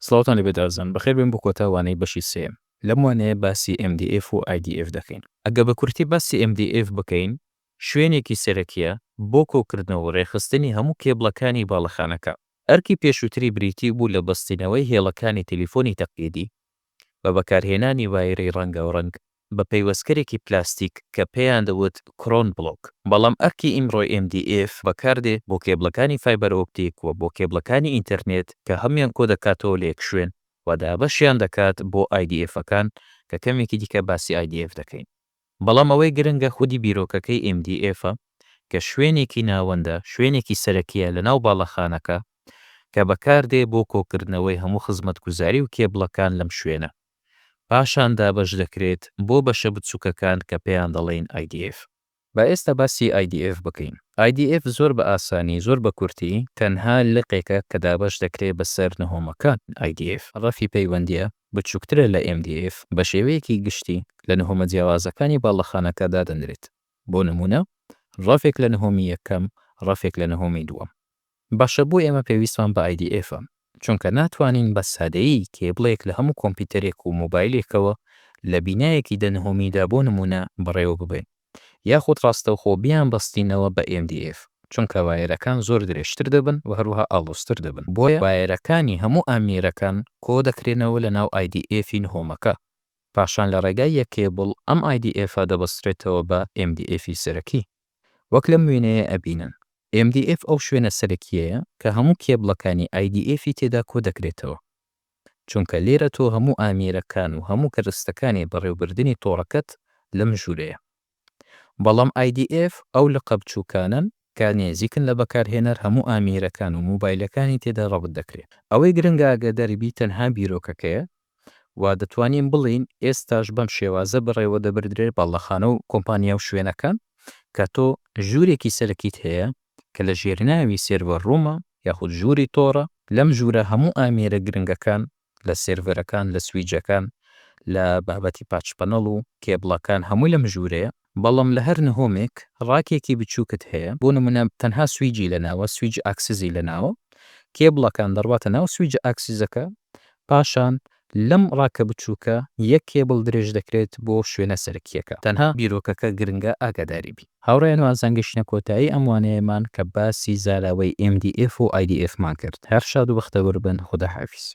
سڵاوتان لێ بێت ئازان. بەخێر بێن بۆ کۆتا وانەی بەشی سێیەم. لەم وانەیە باسی MDF و IDF دەکەین. ئەگەر بە کورتی باسی MDF بکەین، شوێنێکی سەرەکییە بۆ کۆکردنەوە و رێکخستنی هەموو کێبڵەکانی باڵەخانەکە. ئەرکی پێشووتری بریتی بوو لە بەستنەوەی هێڵەکانی تەلیفۆنی تەقلیدی بە بەکارهێنانی وایەری رەنگاوڕەنگ بە پەیوەستکەرێکی پلاستیک کە پێیان دەوت کرۆن بڵۆک، بەڵام ئەرکی ئیمڕۆی MDF بەکاردێت بۆ کێبڵەکانی فایبەر ئۆپتیک و بۆ کێبڵەکانی ئینتەرنێت کە هەموویان کۆدەکاتەوە لە یەک شوێن و دابەشیان دەکات بۆ IDFەکان کە کەمێکی دیکە باسی IDF دەکەین. بەڵام ئەوەی گرنگە خودی بیرۆکەکەی MDF ە کە شوێنێکی ناوەندە، شوێنێکی سەرەکییە لەناو باڵەخانەکە کە بەکاردێت بۆ کۆکردنەوەی هەموو خزمەتگوزاری و کێبڵەکان لەم شوێنە. پاشان دابەش دەکرێت بۆ بەشە بچووکەکان کە پێیان دەڵێین IDF. با ئێستا باسی IDF بکەین. IDF زۆر بە ئاسانی، زۆر بە کورتی، تەنها لقێکە کە دابەش دەکرێت بەسەر نهۆمەکان. IDF ڕەفی پەیوەندییە بچووکترە لە MDF، بە شێوەیەکی گشتی لە نهۆمە جیاوازەکانی باڵەخانەکە دادەنرێت، بۆ نموونە ڕەفێک لە نهۆمی یەکەم، ڕەفێک لە نهۆمی دووەم. باشە بۆ ئێمە پێویستمان بە IDF ە چونکە ناتوانین بە سادەیی کێبڵێک لە هەموو کۆمپیوتەرێک و مۆبایلێکەوە لە بینایەکی دە نهۆمیدا بۆ نموونە بەڕێوە ببەین یاخود ڕاستەوخۆ بیانبەستینەوە بە MDF چونکە وایەرەکان زۆر درێژتر دەبن و هەروەها ئاڵۆزتر دەبن بۆیە وایەرەکانی هەموو ئامێرەکان کۆ دەکرێنەوە لە ناو IDF ی نهۆمەکە پاشان لە ڕێگای یەک کێبڵ ئەم IDF ە دەبەسترێتەوە بە MDF ی سەرەکی. وەک لەم وێنەیە ئەبینن MDF ئەو شوێنە سەرەکیەیە کە هەموو کێبڵەکانی IDF ی تێدا کۆدەکرێتەوە چونکە لێرە تۆ هەموو ئامیرەکان و هەموو کەرستەکانی بەڕێوبردنی تۆڕەکەت لەم ژورەیە بەڵام IDF ئەو لقە بچوکانەن کە نێزیکن لە بەکارهێنەر هەموو ئامیرەکان و موبایلەکانی تێدا ڕەبت دەکرێت ئەوەی گرنگە ئاگاداری بی تەنها بیرۆکەکەیە و دەتوانین بڵێین ئێستاش بەم شێوازە بەڕێوە دەبردرێت باڵەخانە و کۆمپانیا و شوێنەکە کە تۆ ژوورێکی سەرەکیت هەیە کە لە ژێرناوی سێرڤەر ڕوومە یاخود ژووری تۆڕە لەم ژوورە هەموو ئامێرە گرنگەکان لە سێرڤەرەکان لە سویجەکان لە بابەتی پاچ پەنەڵ و کێبڵەکان هەمووی لەم ژوورەیە بەڵام لە هەر نهۆمێک ڕاکێکی بچووکت هەیە، بۆ نموونە تەنها سویجی لەناوە، سویج ئاکسیزی لەناوە، کێبڵەکان دەڕواتە ناو سویجە ئاکسیزەکە، پاشان لەم ڕاکە بچووکە یەک کێبڵ درێژ دەکرێت بۆ شوێنە سەرەکییەکە، تەنها بیرۆکەکە گرنگە ئاگاداری بین. هاوڕێیان وازان گەشتینە کۆتایی ئەم وانەیەمان کە باسی زاراوەی MDF و IDF مان کرد، هەر شاد و بەختەوەر بن، خوداحافیز.